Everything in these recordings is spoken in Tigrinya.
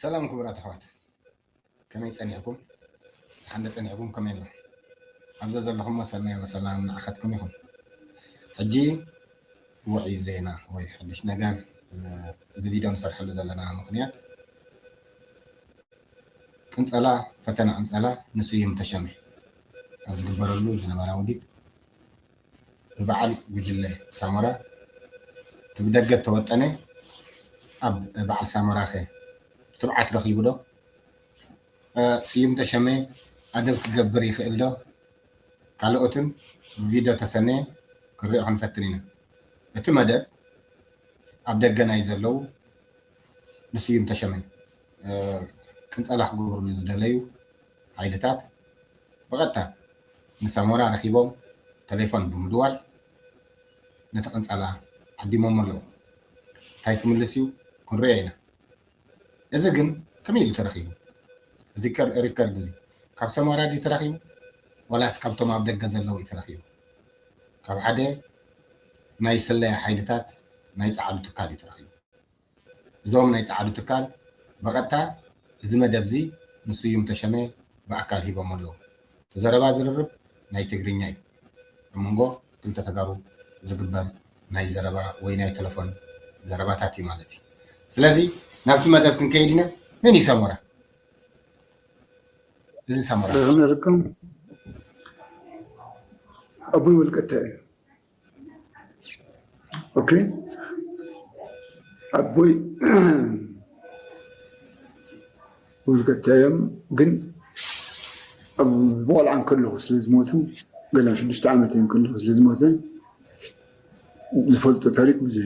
ሰላም ክቡራት ኣሕዋት ከመይ ፀኒዕኩም ሓንደ ፀኒዕኩም ከመይ ኣሎ ኣብዘ ዘለኹሞ ሰናይ ወሰላም ንዓኸትኩም ይኹን ሕጂ ውዒ ዜና ወይ ሓድሽ ነገር እዚ ቪድዮ ንሰርሐሉ ዘለና ምክንያት ቅንፀላ ፈተና ቅንፀላ ንስዩም ተሸመ ኣብ ዝግበረሉ ዝነበረ ውዲት ብበዓል ጉጅለ ሳሞራ እቲ ብደገ እተወጠነ ኣብ በዓል ሳሞራኸ ትብዓት ረኺቡዶ? ስዩም ተሸመ ኣደብ ክገብር ይኽእልዶ? ካልኦትን ብቪድዮ ተሰነየ ክንሪኦ ክንፈትን ኢና። እቲ መደብ ኣብ ደገ ናይ ዘለዉ ንስዩም ተሸመ ቅንጸላ ክገብሩሉ ዝደለዩ ሓይልታት ብቐጥታ ምስ ሳሞራ ረኺቦም ተሌፎን ብምድዋል ነቲ ቅንጸላ ዓዲሞሞ ኣለዉ። እንታይ ክምልስ እዩ ክንርእዮ ኢና። እዚ ግን ከመይ ኢሉ ተረኺቡ? እዚ ሪከርድ እዚ ካብ ሰሞራ ድዩ ተረኺቡ ዋላስ ካብቶም ኣብ ደገ ዘለዉ እዩ ተረኺቡ? ካብ ሓደ ናይ ስለያ ሓይልታት ናይ ጸዓዱ ትካል እዩ ተረኺቡ። እዞም ናይ ጸዓዱ ትካል ብቐጥታ እዚ መደብ'ዚ ንስዩም ተሸመ ብኣካል ሂቦሞ ኣለዉ። እቲ ዘረባ ዝርርብ ናይ ትግርኛ እዩ። ኣብ መንጎ ክልተ ተጋሩ ዝግበር ናይ ዘረባ ወይ ናይ ተለፎን ዘረባታት እዩ ማለት እዩ። ስለዚ ናብቲ መደብ ክንከይድ ኢና። መን እዩ ሰሞራ? እዚ ሰሞራ። ደህና ነርኩም ኣቡይ ወልቀታይ እዩ። ኦኬ ኣቦይ ወልቀታዮም ግን ኣብ ብቆልዓ ከለኹ ስለ ዝሞቱ ገና ሽዱሽተ ዓመት እዮም ከለኹ ስለ ዝሞተ ዝፈልጦ ታሪክ ብዙሕ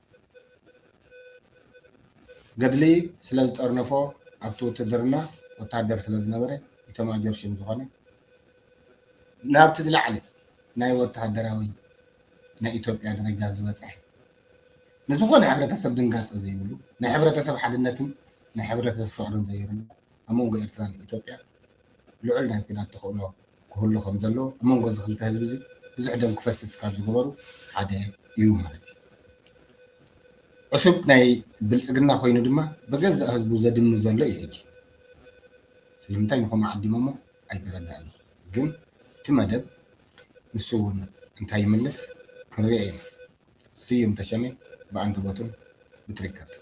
ገድሊ ስለ ዝጠርነፎ ኣብቲ ውትድርና ወታደር ስለ ዝነበረ ኢታማዦር ሹም ዝኾነ ናብቲ ዝለዓለ ናይ ወታደራዊ ናይ ኢትዮጵያ ደረጃ ዝበፅሐ ንዝኾነ ሕብረተሰብ ድንጋፀ ዘይብሉ ናይ ሕብረተሰብ ሓድነትን ናይ ሕብረተሰብ ፍቕርን ዘየብሉ ኣብ መንጎ ኤርትራን ኢትዮጵያን ልዑል ናይ ኲናት ተኽእሎ ክህሉ ከም ዘለዎ ኣብ መንጎ እዚ ክልተ ህዝቢ እዚ ብዙሕ ደም ክፈስስ ካብ ዝገበሩ ሓደ እዩ ማለት እዩ። ዕሱብ ናይ ብልጽግና ኮይኑ ድማ ብገዛእ ህዝቡ ዘድሚ ዘሎ እዩ ሕጂ። ስለምንታይ ንከምኡ ዓዲሞሞ ኣይተረድኣኒ ግን እቲ መደብ ንሱ እውን እንታይ ይምልስ ክንሪኦ ኢና። ስዩም ተሸሜ ብኣንደበቱን ብትሪከርቱን።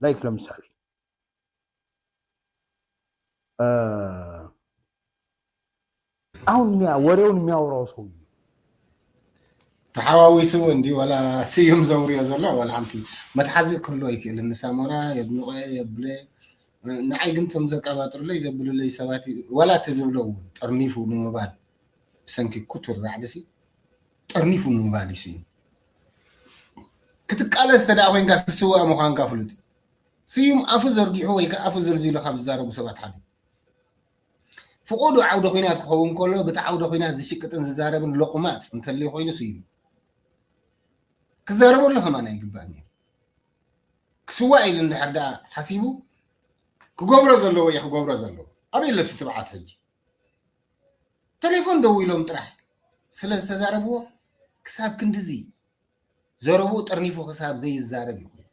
ላይክ ለምሳሌ አሁን ወሬውን የሚያወራው ሰው ተሓዋዊሱ እንዲ ወላ ስዩም ዘውርዮ ዘሎ ወላ ሓንቲ መትሓዚ ክህሎ ይክእል ንሳሞራ የድንቆ የብለ ንዓይ ግን ቶም ዘቀባጥርለይ ዘብልለይ ሰባት ወላ እቲ ዝብሎ እውን ጠርኒፉ ንምባል ብሰንኪ ኩቱር ራዕድሲ ጠርኒፉ ንምባሊሱ እዩ ክትቃለስ ተደኣ ኮንካ ትስዋእ ምዃንካ ፍሉጥ እዩ ስዩም ኣፉ ዘርጊሑ ወይ ከዓ ኣፉ ዘልዚሉ ካብ ዝዛረቡ ሰባት ሓደ ፍቆዱ ዓውደ ኩናት ክኸውን ከሎ ብቲ ዓውደ ኩናት ዝሽቅጥን ዝዛረብን ሎቑማፅ እንተልዩ ኮይኑ ስዩም ክዛረበሉ ከማን ኣይግባእን እዩ ክስዋእ ኢሉ እንድሕር ደኣ ሓሲቡ ክገብሮ ዘለዎ እዩ ክገብሮ ዘለዎ ኣበይ ኣሎ ትብዓት ሕጂ ተሌፎን ደዊሎም ጥራሕ ስለ ዝተዛረብዎ ክሳብ ክንድዚ ዘረብኡ ጠርኒፉ ክሳብ ዘይዛረብ እዩ ኮይኑ።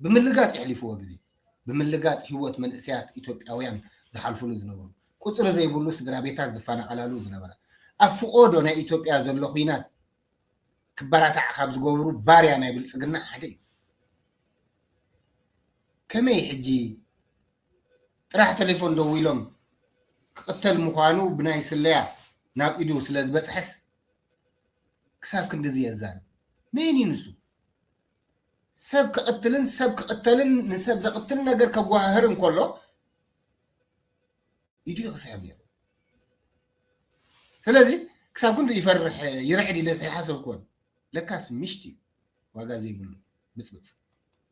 ብምልጋፅ የሕሊፍዎ ግዜ። ብምልጋፅ ህይወት መንእሰያት ኢትዮጵያውያን ዝሓልፍሉ ዝነበሩ። ቁፅሪ ዘይብሉ ስድራቤታት ዝፈናቐላሉ ዝነበረ። ኣብ ፍቖዶ ናይ ኢትዮጵያ ዘሎ ኹናት ክበራታዕ ካብ ዝገብሩ ባርያ ናይ ብልፅግና ሓደ እዩ። ከመይ ሕጂ ጥራሕ ተሌፎን ደዊሎም ክቕተል ምዃኑ ብናይ ስለያ ናብ ኢዱ ስለ ዝበጽሐስ ክሳብ ክንድዚ የዛርብ። መን እዩ ንሱ? ሰብ ክቕትልን ሰብ ክቕተልን ንሰብ ዘቕትል ነገር ከጓህህር እንከሎ ኢዱ እዩ ክስሕብ ነይሩ። ስለዚ ክሳብ ክንዱ ይፈርሕ ይርዕድ ኢለስ ኣይሓሰብኩዎን። ለካስ ምሽት እዩ ዋጋ ዘይብሉ ብጽብጽ።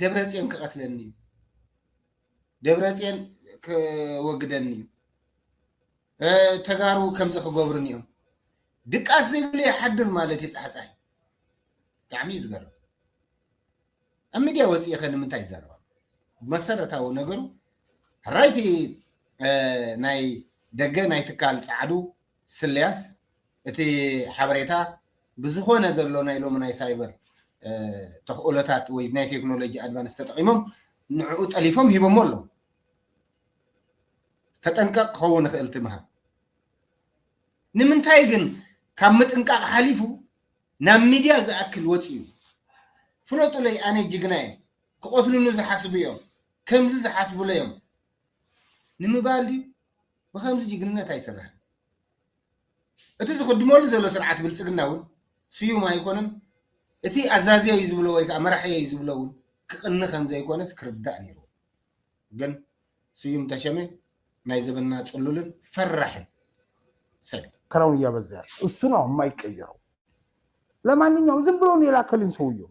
ደብረፅዮን ክቐትለኒ እዩ፣ ደብረፅዮን ክወግደኒ እዩ፣ ተጋሩ ከምዚ ክገብሩን እዮም ድቃስ ዘይብሉ ይሓድር ማለት እዩ ፃሕፃይ ብጣዕሚ እዩ ዝገርም ኣብ ሚድያ ወፅኢ ከ ንምንታይ ይዛረባ መሰረታዊ ነገሩ ሕራይቲ ናይ ደገ ናይ ትካል ፃዕዱ ስልያስ እቲ ሓበሬታ ብዝኾነ ዘሎ ናይ ሎሚ ናይ ሳይበር ተኽእሎታት ወይ ናይ ቴክኖሎጂ ኣድቫንስ ተጠቒሞም ንዕኡ ጠሊፎም ሂቦሞ ኣለዉ ተጠንቀቕ ክኸውን ይኽእል ትምሃብ ንምንታይ ግን ካብ ምጥንቃቕ ሓሊፉ ናብ ሚድያ ዝኣክል ወፅዩ ፍለጡለይ ኣነ ጅግና እየ ክቐትሉኒ ዝሓስቡ እዮም ከምዚ ዝሓስቡለ እዮም ንምባል ድዩ? ብኸምዚ ጅግንነት ኣይስራሕን። እቲ ዝኽድመሉ ዘሎ ስርዓት ብልጽግና እውን ስዩም ኣይኮነን፣ እቲ ኣዛዝየ እዩ ዝብሎ ወይ ከኣ መራሕየ እዩ ዝብሎ እውን ክቕኒ ከም ዘይኮነስ ክርዳእ ነይርዎ። ግን ስዩም ተሸመ ናይ ዘበንና ጽሉልን ፈራሕን ሰብ እዩ። ክረውን እያበዘ ያለ እሱ ነው የማይቀየረው ለማንኛውም ዝም ብሎ ነው የላከልኝ ሰውየው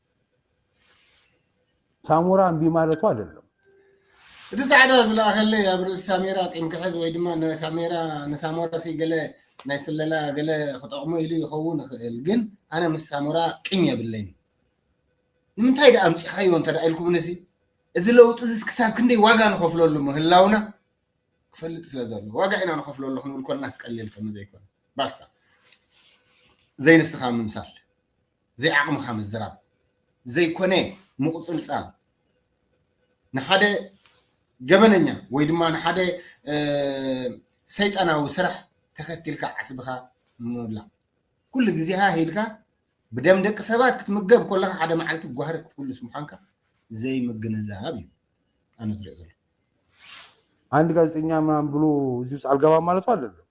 ሳሞራ እምቢ ማለቱ አይደለም። እቲ ጻዕዳ ዝለኣኸለይ ኣብ ርእሲ ሳሜራ ቂም ክሕዝ ወይ ድማ ንሳሜራ ንሳሞራሲ ገለ ናይ ስለላ ገለ ክጠቕሞ ኢሉ ይኸውን ይኽእል ግን ኣነ ምስ ሳሞራ ቂም የብለይን ንምንታይ ደኣ ኣምጺኻዮ እንተ ኢልኩምንሲ እዚ ለውጢ እዚስ ክሳብ ክንደይ ዋጋ ንኸፍለሉ ምህላውና ክፈልጥ ስለ ዘሎ ዋጋ ኢና ንኸፍለሉ ክንብል ኮልና ስቀሊል ከም ዘይኮነ ባስታ ዘይንስኻ ምምሳል ዘይዓቕምኻ ምዝራብ ዘይኮነ ምቑጽልጻል ንሓደ ገበነኛ ወይ ድማ ንሓደ ሰይጣናዊ ስራሕ ተኸቲልካ ዓስብኻ ምብላዕ ኩሉ ግዜ ሃህ ኢልካ ብደም ደቂ ሰባት ክትምገብ ከለካ ሓደ መዓልቲ ጓህሪ ክትኩልስ ምዃንካ ዘይምግንዛብ እዩ ኣነ ዝሪኦ ዘሎ አንድ ጋዜጠኛ ምናምን ብሎ እዚህ ውስጥ አልገባም ማለት አይደለም።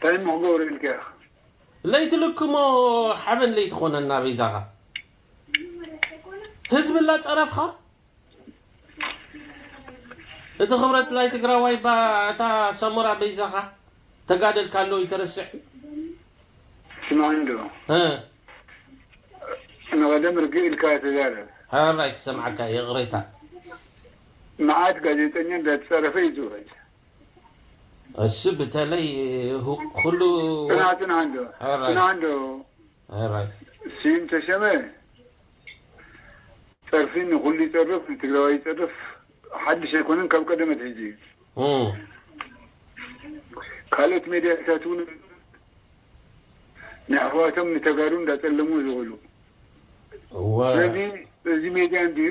ታይ እሞ ክገብሩ ኢልካ ኢኻ። ለይትልክሞ ሓበን ለይትኾነና በይዛኻ ህዝቢ ላፀረፍኻ እቲ ክብረት ላይ ትግራዋይ እባ እታ ሰሞራ በይዛኻ ተጋደልካሎ እይተረስዕ ስማዕኒ ዶ እ ንቀደም ርግእ ኢልካ ተዛረብ። ሐራይ ክሰምዓካ እየ ይቕሬታ። መዓት ጋዜጠኛ እንዳተፀረፈ እዩ ዝውዕል። እሱ ብተለይ ኹሉ ጽንዓ ጽንዓ እንዶ ጽንዓ እንዶ ስዩም ተሸመ ጸርፊ ንኹሉ ይጸርፍ ንትግራዋይ ይጸርፍ ሓድሽ ኣይኮነን ካብ ቀደም ኣትሒዙ እዩ ካልኦት ሜድያታት እውን ንኣሕዋቶም ንተጋሩ እንዳጸለሙ ዝውዕሉ ስለዚ እዚ ሜድያ እንድዩ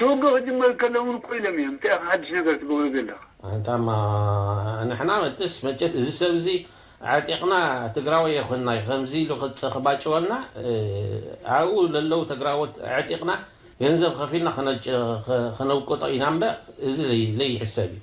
ተወግእ ክጅመር ከሎ እውን እኮ ኢሎም እዮም እንታይ ኢኻ ሓድሽ ነገር ትገብሮ ዘለኻ። ኣንታ እማ ንሕና መጥስ መቸስ እዚ ሰብ እዚ ኣዕጢቅና ትግራወይ የኮናይ ከምዚ ኢሉ ክባጭወና ኣብኡ ለለው ተግራዎት ኣዕጢቅና ገንዘብ ከፊልና ከነውቅጦ ኢና እምበር እዚ ለይሕሰብ እዩ።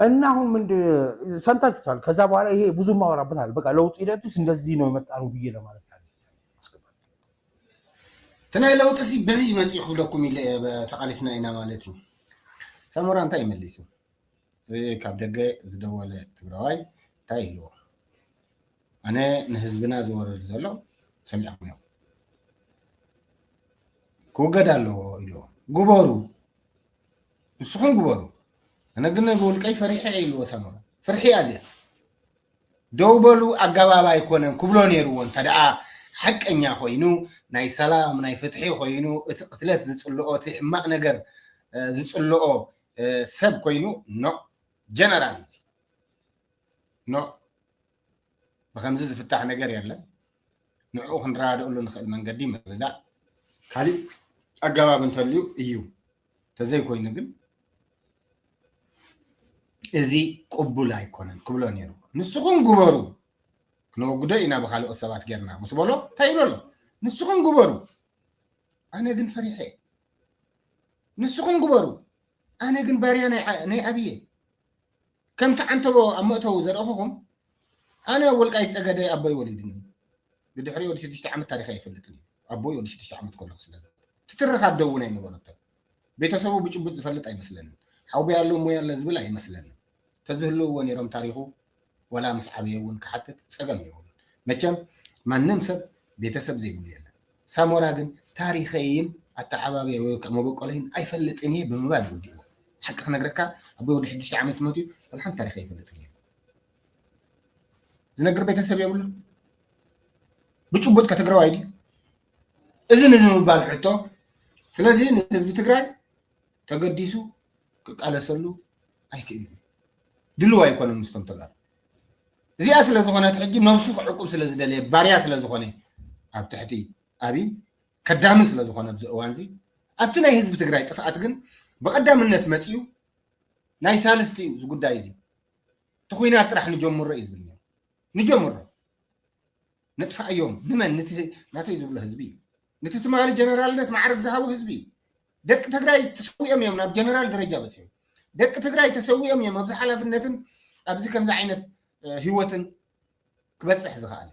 እና አሁን ምንድ ሰምታችሁታል። ከዛ በኋላ ይሄ ብዙ ማወራበት አለ። በቃ ለውጥ ሂደት ውስጥ እንደዚህ ነው የመጣ ነው ብዬ ለማለት ያለ ትናይ ለውጥ ሲ በዚ መፅ ክብለኩም ኢለ ተቃሊስና ኢና ማለት እዩ። ሰሞራ እንታይ ይመሊሱ ካብ ደገ ዝደወለ ትግራዋይ እንታይ ይህልዎ ኣነ ንህዝብና ዝወርድ ዘሎ ሰሚዕኩም ኢኹም ክውገድ ኣለዎ ኢልዎ ግበሩ ንስኹም ግበሩ ኣነ ግን ብውልቀይ ፈሪሐ ኢልዎ ሰመረ ፍርሒ እያ እዚኣ ደው በሉ ኣገባብ ኣይኮነን ክብሎ ነይርዎ እንተ ደኣ ሓቀኛ ኮይኑ ናይ ሰላም ናይ ፍትሒ ኮይኑ እቲ ቅትለት ዝፅልኦ እቲ ሕማቅ ነገር ዝፅልኦ ሰብ ኮይኑ ኖ ጀነራል እዚ ኖእ ብኸምዚ ዝፍታሕ ነገር የለን ንዕኡ ክንረዳድእሉ ንኽእል መንገዲ ምርዳእ ካሊእ ኣገባብ እንተልዩ እዩ ተዘይኮይኑ ግን እዚ ቅቡል ኣይኮነን ክብሎ ነይሩ ንስኹም ግበሩ ክነወግዶ ኢና ብካልኦት ሰባት ጌርና ምስ በሎ እንታይ ይብሎ ኣሎ ንስኹም ግበሩ ኣነ ግን ፈሪሐ ንስኹም ግበሩ ኣነ ግን ባርያ ናይ ኣብየ ከምቲ ዓንተቦ ኣብ መእተዊ ዘርእኹኹም ኣነ ወልቃይት ጸገዴ ኣቦይ ወሊድኒ ብድሕሪኡ ወዲ ሽዱሽተ ዓመት ታሪኸ ኣይፈልጥን እዩ ኣቦይ ወዲ ሽዱሽተ ዓመት ከለኹ ስለ ትትርኽ ኣደ እውን ኣይነበረቶ ቤተሰቡ ብጭቡጥ ዝፈልጥ ኣይመስለንን ሓውቢ ኣሎ እሞ ያለ ዝብል ኣይመስለንን ተዝህልውዎ ነይሮም ታሪኹ ዋላ ምስ ዓብየ እውን ክሓትት ፀገም የብሉን መቸም ማንም ሰብ ቤተሰብ ዘይብሉ የለን ሳሞራ ግን ታሪከይን ኣተዓባብያይ ወይ ከዓ መበቆለይን ኣይፈልጥን እየ ብምባል እዩ ወዲእዎ ሓቂ ክነግረካ ኣቦይ ወዲ ሽዱሽተ ዓመት መትዩ ወላ ሓንቲ ታሪክ ኣይፈልጥን እየ ዝነግር ቤተሰብ የብሉን ብጭቡጥ ከትግራዋይ ድዩ እዚ ንዝምባል ሕቶ ስለዚ ንህዝቢ ትግራይ ተገዲሱ ክቃለሰሉ ኣይክእልን እዩ። ድልው ኣይኮነን ምስቶም ተጋሩ እዚኣ ስለ ዝኾነት ሕጂ ነብሱ ክዕቁብ ስለ ዝደለየ ባርያ ስለ ዝኾነ ኣብ ትሕቲ ኣብይ ከዳሚ ስለ ዝኾነ ኣብዚ እዋን እዚ ኣብቲ ናይ ህዝቢ ትግራይ ጥፍኣት ግን ብቐዳምነት መፅዩ ናይ ሳልስቲ እዩ እዚ ጉዳይ እዚ እቲ ኩናት ጥራሕ ንጀምሮ እዩ ዝብል ነይሩ ንጀምሮ ነጥፋኣዮም ንመን ንቲ ናተይ ዝብሎ ህዝቢ ንቲ ትማሊ ጀነራልነት ማዕርግ ዝሃቦ ህዝቢ ደቂ ትግራይ ተሰዊኦም እዮም ናብ ጀነራል ደረጃ በፂኦም ደቂ ትግራይ ተሰዊኦም እዮም ኣብዚ ሓላፍነትን ኣብዚ ከምዚ ዓይነት ህይወትን ክበፅሕ ዝኽኣል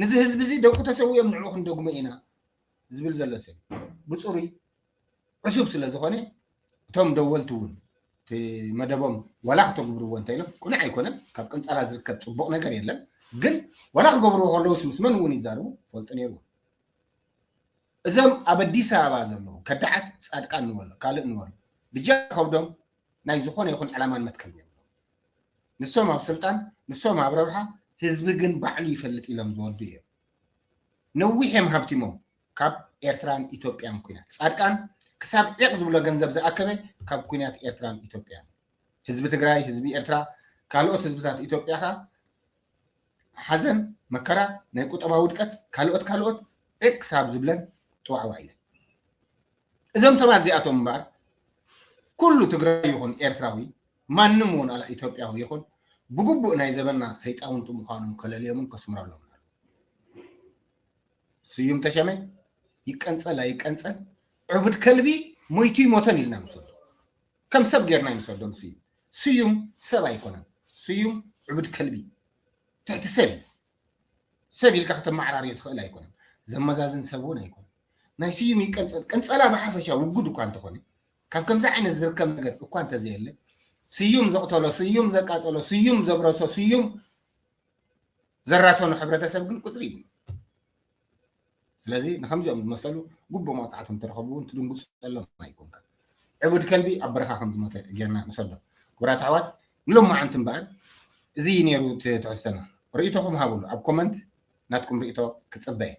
ንዚ ህዝቢ እዚ ደቁ ተሰዊኦም ንዕኡ ክንደግሞ ኢና ዝብል ዘሎ ሰብ ብፅሩይ ዕሱብ ስለ ዝኾነ እቶም ደወልቲ እውን እቲ መደቦም ዋላ ክተግብርዎ እንተኢሎም ቅኑዕ ኣይኮነን ካብ ቅንፀላ ዝርከብ ፅቡቕ ነገር የለን ግን ዋላ ክገብርዎ ከለውስ ምስ መን እውን ይዛርቡ ፈልጡ ነይሩ እዞም ኣብ ኣዲስ ኣበባ ዘለዉ ከዳዓት ፃድቃን ንበሎ ካልእ ንበሎ ብጃ ከብዶም ናይ ዝኾነ ይኹን ዕላማን መትከል ነይሩ ንሶም ኣብ ስልጣን ንሶም ኣብ ረብሓ ህዝቢ ግን ባዕሉ ይፈልጥ ኢሎም ዝወዱ እዮም ነዊሕ እዮም ሃብቲሞም ካብ ኤርትራን ኢትዮጵያን ኩናት ፃድቃን ክሳብ ዒቕ ዝብሎ ገንዘብ ዝኣከበ ካብ ኩናት ኤርትራን ኢትዮጵያን ህዝቢ ትግራይ ህዝቢ ኤርትራ ካልኦት ህዝብታት ኢትዮጵያ ከ ሓዘን መከራ ናይ ቁጠባ ውድቀት ካልኦት ካልኦት ዒቕ ክሳብ ዝብለን ጥዋዕዋ ኢለን እዞም ሰባት እዚኣቶም እምበኣር ኩሉ ትግራይ ይኹን ኤርትራዊ ማንም እውን ኣላ ኢትዮጵያዊ ይኹን ብግቡእ ናይ ዘበና ሰይጣውንቲ ምዃኖም ከለልዮምን ከስምረሎም ስዩም ተሸመ ይቀንፀል ኣይቀንፀል ዕቡድ ከልቢ ሞይቱ ይሞተን ኢልና ንሰዶ ከም ሰብ ጌርና ይንሰዶ ንስዩም ስዩም ሰብ ኣይኮነን ስዩም ዕቡድ ከልቢ ትሕቲ ሰብ እዩ ሰብ ኢልካ ከተመዓራርዮ ትኽእል ኣይኮነን ዘመዛዝን ሰብ እውን ኣይኮነን ናይ ስዩም ይቀንፀል ቅንፀላ ብሓፈሻ ውጉድ እኳ እንተኾነ ካብ ከምዚ ዓይነት ዝርከብ ነገር እኳ እንተዘየለ ስዩም ዘቕተሎ ስዩም ዘቃፀሎ ስዩም ዘብረሶ ስዩም ዘራሰኑ ሕብረተሰብ ግን ቁፅሪ ይብሉ ስለዚ ንከምዚኦም ዝመሰሉ ጉቡእ መቕፃዕቲ እንተረኸቡ እውን ትድንጉፀሎም ኣይኮንካ ዕቡድ ከልቢ ኣብ በረኻ ከም ዝሞተ ጌርና ንሰዶ ክቡራት ኣሕዋት ንሎማዓንቲ እምበኣር እዚ እዩ ነይሩ ትሕዝቶና ርእቶኹም ሃብሉ ኣብ ኮመንት ናትኩም ርእቶ ክፅበ እየ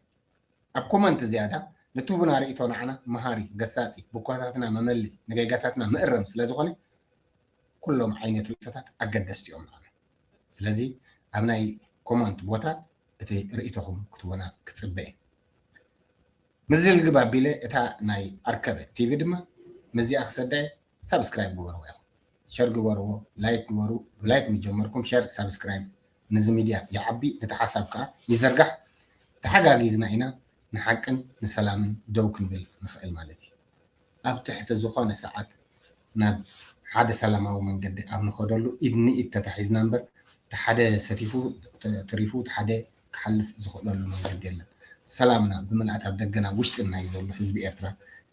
ኣብ ኮመንት ዝያዳ ንትቡና ርእቶ ንዓና መሃሪ ገሳፂ ብኳታትና መመሊ ንጌጋታትና ምእረም ስለ ዝኾነ ኩሎም ዓይነት ርእቶታት ኣገደስቲ እዮም ንዓና ስለዚ ኣብ ናይ ኮሞንት ቦታ እቲ ርእይቶኹም ክትቡና ክጽበ እየ። ምስዚ ልግብ ኣቢለ እታ ናይ ኣርከበ ቲቪ ድማ ምስዚኣ ክሰዳ እየ ሳብስክራይብ ግበርዋ ኢኹም። ሸር ግበርዎ ላይክ ግበሩ ብላይክ ምስ ጀመርኩም ሸር ሳብስክራይብ ንዚ ሚድያ ይዓቢ እቲ ሓሳብ ከኣ ይዝርጋሕ ተሓጋጊዝና ኢና ንሓቅን ንሰላምን ደው ክንብል ንኽእል ማለት እዩ። ኣብ ትሕቲ ዝኾነ ሰዓት ናብ ሓደ ሰላማዊ መንገዲ ኣብ ንኸደሉ ኢድ ንኢድ ተታሒዝና እምበር እቲ ሓደ ሰቲፉ ተሪፉ እቲ ሓደ ክሓልፍ ዝኽእለሉ መንገዲ የለን። ሰላምና ብምልኣት ኣብ ደገን ኣብ ውሽጥን ናይ ዘሎ ህዝቢ ኤርትራ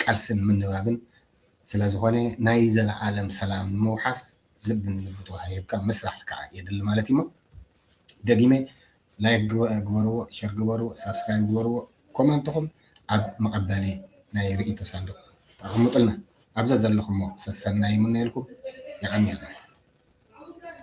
ቃልስን ምንባብን ስለዝኾነ ናይ ዘለኣለም ሰላም ንምውሓስ ልብን ልቢ ተወሃሂብካ ምስራሕ ከኣ የድሊ ማለት እዩሞ ደጊመ ላይክ ግበርዎ ሸር ግበርዎ ሳብስክራይብ ግበርዎ ኮመንትኹም ኣብ መቐበሊ ናይ ርእይቶ ሳንዱቕ ኣቐምጡልና ኣብ ዘዘለኹሞ ሰሰናዩ ይምነየልኩም የቐንየልና።